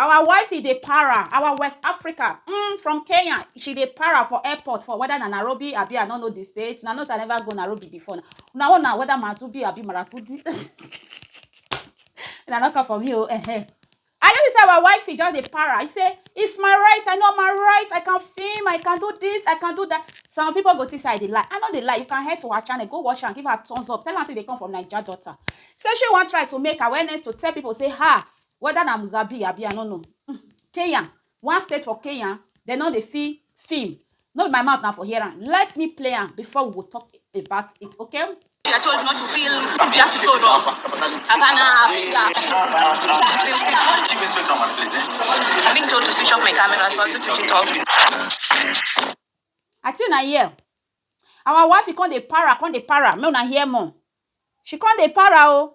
Our wifey dey para, our West Africa umm from Kenya she dey para for airport for whether na Nairobi abi I no know the state, una know say I never go Nairobi before na, una own na whether Madubi abi Maragudi una no come for me oo ehen. I notice say our wifey just dey para, she say it's my right, I know my right, I can film, I can do this, I can do that, some people go think say I dey lie, I no dey lie, you can head to her channel go watch am give her thumbs up, tell am say you dey come from Naija daughter, say she wan try to make awareness to tell people say ha weda na Muzabir abi I no know um Kenya one state for Kenya dem no dey feel film no be my mouth na for hear am let me play am before we go talk about it okay. I chose not to feel just so raw. Havana, Africa. Sim, sim. I've been told to switch off my camera, so I have to switch it off. I tune I hear. Our wife he come dey para, come dey para. Make una hear more. She come dey para oh.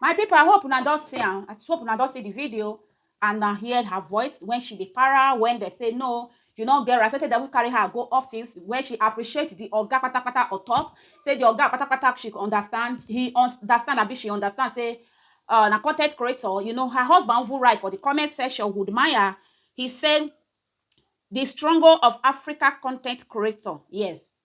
My people I hope una don see am, I hope una don see the video and una hear her voice when she dey para when they say no you no get right so tey dem even carry her go office where she appreciate the oga patapata on top say the oga patapata she understand he understand abi she understand say um na con ten t creator you know her husband even write for the comment section would maya he say the struggle of Africa con ten t creator yes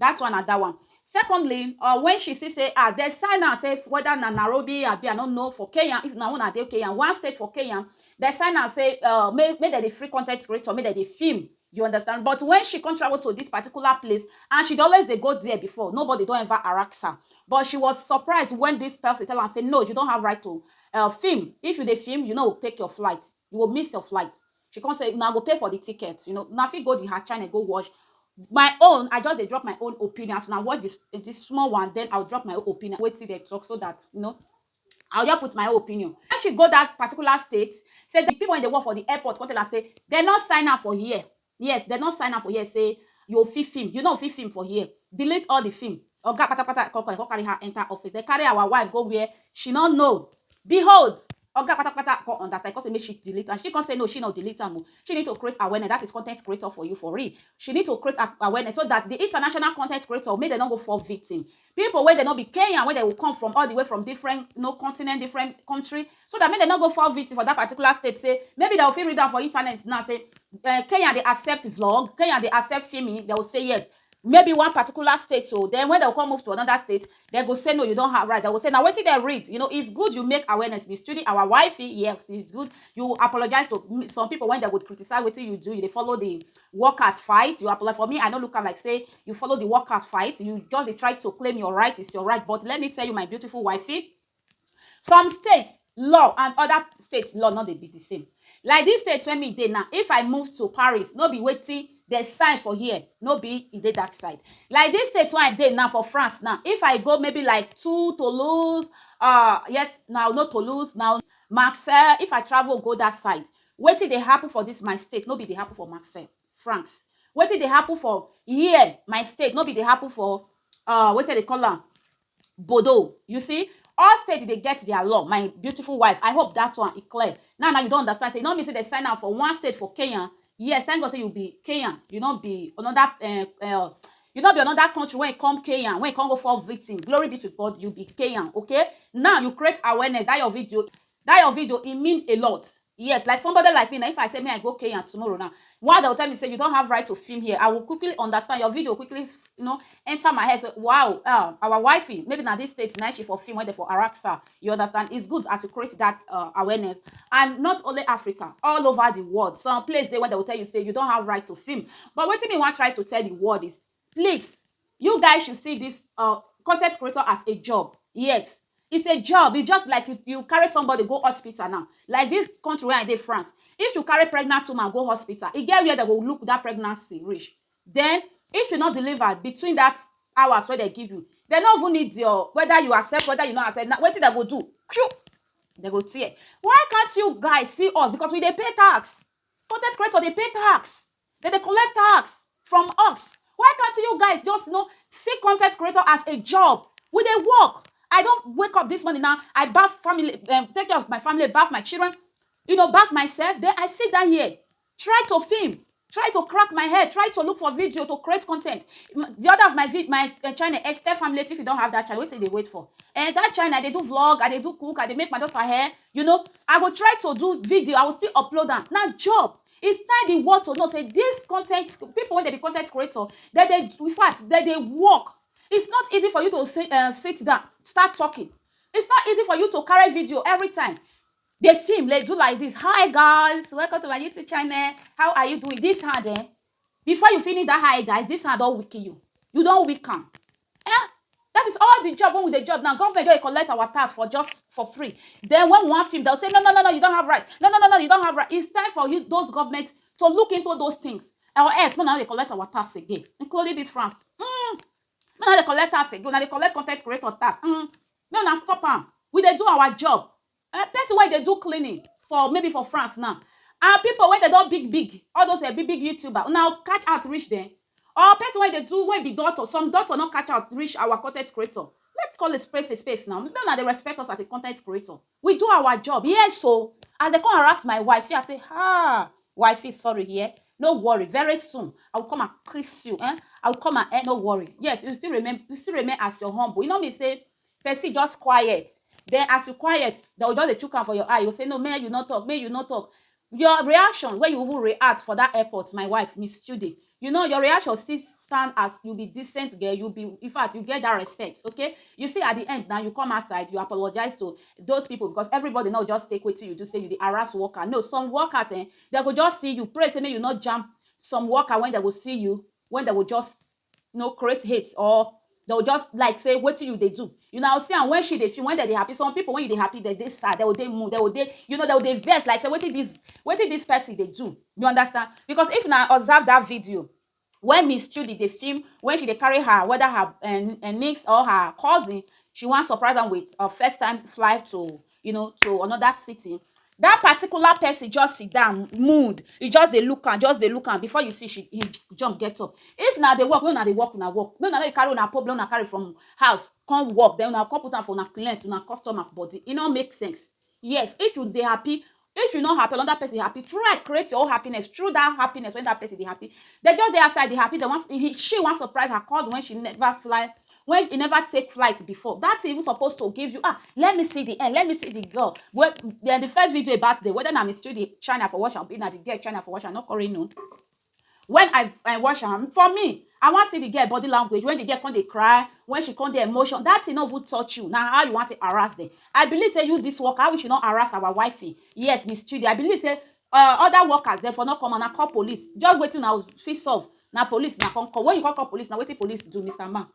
Dat one na dat one. Secondly, or wen she see say ah dem sign am say weda na Nairobi abi I no know for Kenya, if na una dey Kenya, one state for Kenya, dem sign am say um make make dem dey free con ten t creator make dem dey film, you understand, but wen she come travel to dis particular place and she dey always dey go there before, nobody don ever harass am, but she was surprised wen dis person tell am say no you don't have right to um film, if you dey film you no go take your flight, you go miss your flight. She come say una go pay for the ticket you know una fit go the her channel go watch my own I just dey drop my own opinion as una watch this this small one then I will drop my own opinion wetin dem talk so that you know I will just put my own opinion. When she go that particular state, say the people wey dey work for the airport come tell am say dem no sign am for here. Yes, dem no sign am for here say you fit film, you no fit film for here. Delete all the film. Oga patapata come call am, come carry her enter office. Dem carry our wife go where she no know. Behold, Oga patapata come understand, e come say make she delete am, she come say no she no delete am o, she need to create awareness, that is content creator for you for real, she need to create awareness so that the international content creator make dem no go fall victim, people wey dem no be Kenyan wey dem go come from all the way from different you know continent, different country, so that make dem no go fall victim for that particular state say maybe dem go fit read am for internet now say Kenya dey accept vlog, Kenya dey accept filming, dem go say yes, maybe one particular state o, den wen dey go kon move to anoda state, dey go say no you don have right, dey go say na wetin dem read, you know it's good you make awareness misstreating our wifey, yes it's good you apologise to some pipu wen dey go criticize wetin you do, you dey follow di workers fight, you apolo for me I no look am like sey you follow di workers fight, you just dey try to claim your right, it's your right but let me tell you my beautiful wifey, Some state law and other state law no dey be the same. Like dis state wey me dey now, if I move to Paris, no be wetin de sign for here, no be e dey dat side. Like dis state wey I dey now for France now, if I go maybe like to Toulouse, um yes na, no Toulouse na, Marseilles, if I travel go dat side, wetin dey happen for dis my state, no be e dey happen for Marseilles, France. Wetin dey happen for here, my state, no be e dey happen for um wetin de dey call am, bodo you see all state dey get their law my beautiful wife i hope that one e clear now now you don understand say e no mean say dem sign am for one state for kenya yes thank god say you be kenyan you no be another um, um, you no be another country when you come kenya when you come go fall victim glory be to god you be kenyan okay now you create awareness that your video that your video e mean a lot Yes, like somebody like me na if I say me I go Kenya tomorrow now, why they will tell me say you don't have right to film here, I will quickly understand your video quickly you know enter my head so wow uh, our wifey maybe na this state na she for film when they for Araxa you understand it's good as you create that uh, awareness and not only Africa all over the world some place they when they will tell you say you don't have right to film but what me want try to tell the world is please You guys should see this um content creator as a job. Yes, it's a job. It's just like you, you carry somebody go hospital now. Like this country where I dey France, if you carry pregnant woman go hospital, e get where they go look that pregnancy reach. Then if you not deliver between that hours where they give you, they no even need your whether you accept whether you not accept. Now what did they go do? They go tear. Why can't you guys see us? Because we dey pay tax. Con ten t creator dey pay tax, dem dey collect tax from us, why can't you guys just no see con ten t creator as a job, we dey work, I don wake up this morning now, I baff family um take care of my family, baff my children, you know baff myself, then I sit down here try to film, try to crack my head, try to look for video to create con ten t, the other of my vi my um channel Esther Family if you don have that channel wetin you dey wait for um that channel I dey do vlog, I dey do cook, I dey make my daughter hair, You know, I go try to do video, I will still upload am, na job. It's time the world to know say this content, people wey dem be content creator, dem dey, in fact, dem dey work. It's not easy for you to say um sit down, start talking. It's not easy for you to carry video every time, dey film, dey do like this, hi guys, welcome to my YouTube channel, how are you doing? This hand um, before you finish that hi guys, this hand don weaken you, you don weak am. Ehn! That is all the job wey we dey job now, government just dey collect our tax for just for free. Then when we wan film, dem go say no no no no you don't have right, no no no no you don't have right. It's time for you those government to look into those things or else make una no dey collect our tax again including this France uhmm make una no dey collect tax again, una dey collect content creator tax uhmm make una stop am. We dey do our job, um person wey dey do cleaning for maybe for France now and people wey dem don big big all those um big big youtuber una catch out reach dem or person wey dey do wey be doctor some doctor no catch out reach our con ten t creator let's call a spade a spade now make una dey respect us as a con ten t creator we do our job yes o as dem come harass my wifey I say um wifey sorry dear no worry very soon I will come and kiss you um I will come and um no worry yes you still remain you still remain as your humble e no mean say Person just quiet then as you quiet dem go just dey chook am for your eye you go say no mehn you no talk mehn you no talk your reaction wey you even react for that airport my wife miss Chude you know your reaction still stand as you be decent girl you be infact you get that respect okay you see at the end now you come outside you apologize to those people because everybody no go just take wetin you do say you dey harass worker no some workers eh dem go just see you pray say make you no jam some worker when dem go see you when dem go just no create hate or dem go just like say wetin you dey do you now see am when she dey feel when dem dey happy some people when you dey happy dem dey sad dem go dey mood dem go dey you know dem go dey vex like say wetin this wetin this person dey do you understand because if una observe that video when miss chudi dey film when she dey carry her whether her um niece or her cousin she wan surprise am with her first time flight to you know to another city that particular person just sit down mood he just dey look am just dey look am before you see she he jump get up if na the work wey una dey work una work make una no dey carry una problem una carry from house come work then una come put am for una client una customer body e no make sense yes if you dey happy If you no happy or another person happy, try create your own happiness through that happiness when that person dey happy. Dem just dey outside dey happy, dem wan he she wan surprise her cousin when she never fly when he never take flight before. That thing even suppose to give you ah let me see the end, let me see the girl wey den the first video about dem whether na Miss Chudi China for watch am abi na the girl China for watch am, I no con really know. When I I watch am, for me, I wan see the girl body language when the girl come dey cry, when she come dey emotion. That thing no even touch you. Na how you wan take harass dem? I believe say you this worker, how you should not harass our wifey. Yes, Miss Chidi, I believe say um other workers dem for no come una call police. Just wetin una go fit solve, na police una come call. When you come call police now, wetin police do, Mister Man?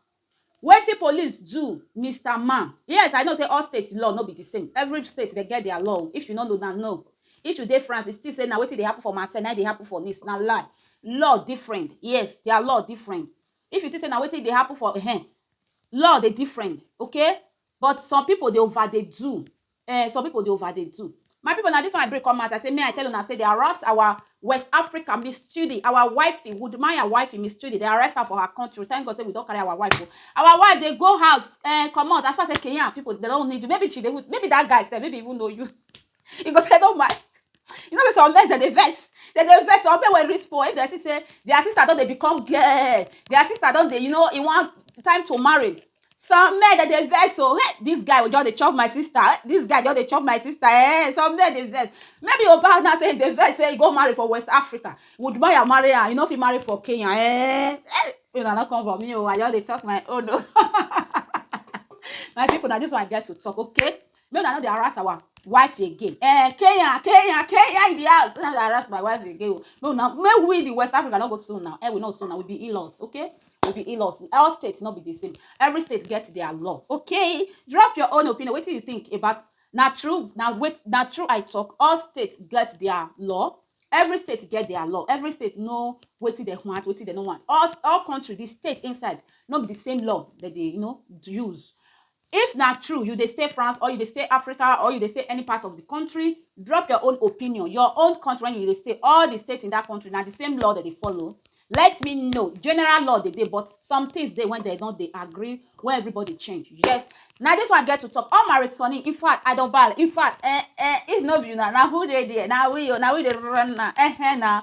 Wetin police do Mister man? Yes I know say all state law no be the same every state dem get their law o if you no know na no if you dey France you think say na wetin dey happen for Marseille na him dey happen for Nice na lie law different yes their law different if you think say na wetin dey happen for um law dey different okay but some people dey over dey do Ehh some people dey over dey do. My people na this one I bring come out I say may I tell una say dey arrest our west Africa miss chidi our wifey woodmaya wifey miss chidi dey arrest her for her country thank God say we don carry our wife o our wife dey go house um comot as far as say Kenyan people dey don need you maybe she dey even maybe that guy sef maybe even know you he go say no ma you know say some men dem dey vex dem dey vex some men wey reach poor if dem see say their sister don dey become girl their sister don dey you know he wan time to marry Some men dem dey vex o, hey dis guy just dey chop my sister, hey dis guy just dey chop my sister eh, some men dey vex. Maybe Mohbad now sey e dey vex sey e go marry for West Africa, would Moya marry am, e no fit marry for Kenya eh, hey make una no come for me o, I just dey talk my own o my pipu na dis one I get to talk okay. Make una no dey harass our wife again um kenya kenya kenya in the house make una no dey harass my wife again o make una make we the west Africa no go so now um we no so now we be in-laws okay we be in-laws all state no be the same every state get their law okay drop your own opinion wetin you think about na true na wait na true I talk all state get their law every state get their law every state know wetin dem want wetin dem no want all all country the state inside no be the same law dem dey you know use If na true you dey stay France or you dey stay Africa or you dey stay any part of di country, drop your own opinion, your own country wen you dey stay, all di state in dat country na di same law dem dey follow? Let me know, general law dey dey but some tins dey wen dem no dey agree wen everybody change, yes na dis one I get to talk, all my returning infact I don ball infact eh eh, if no be una na who dey there, na we oh, na we dey run am ehn ehn na.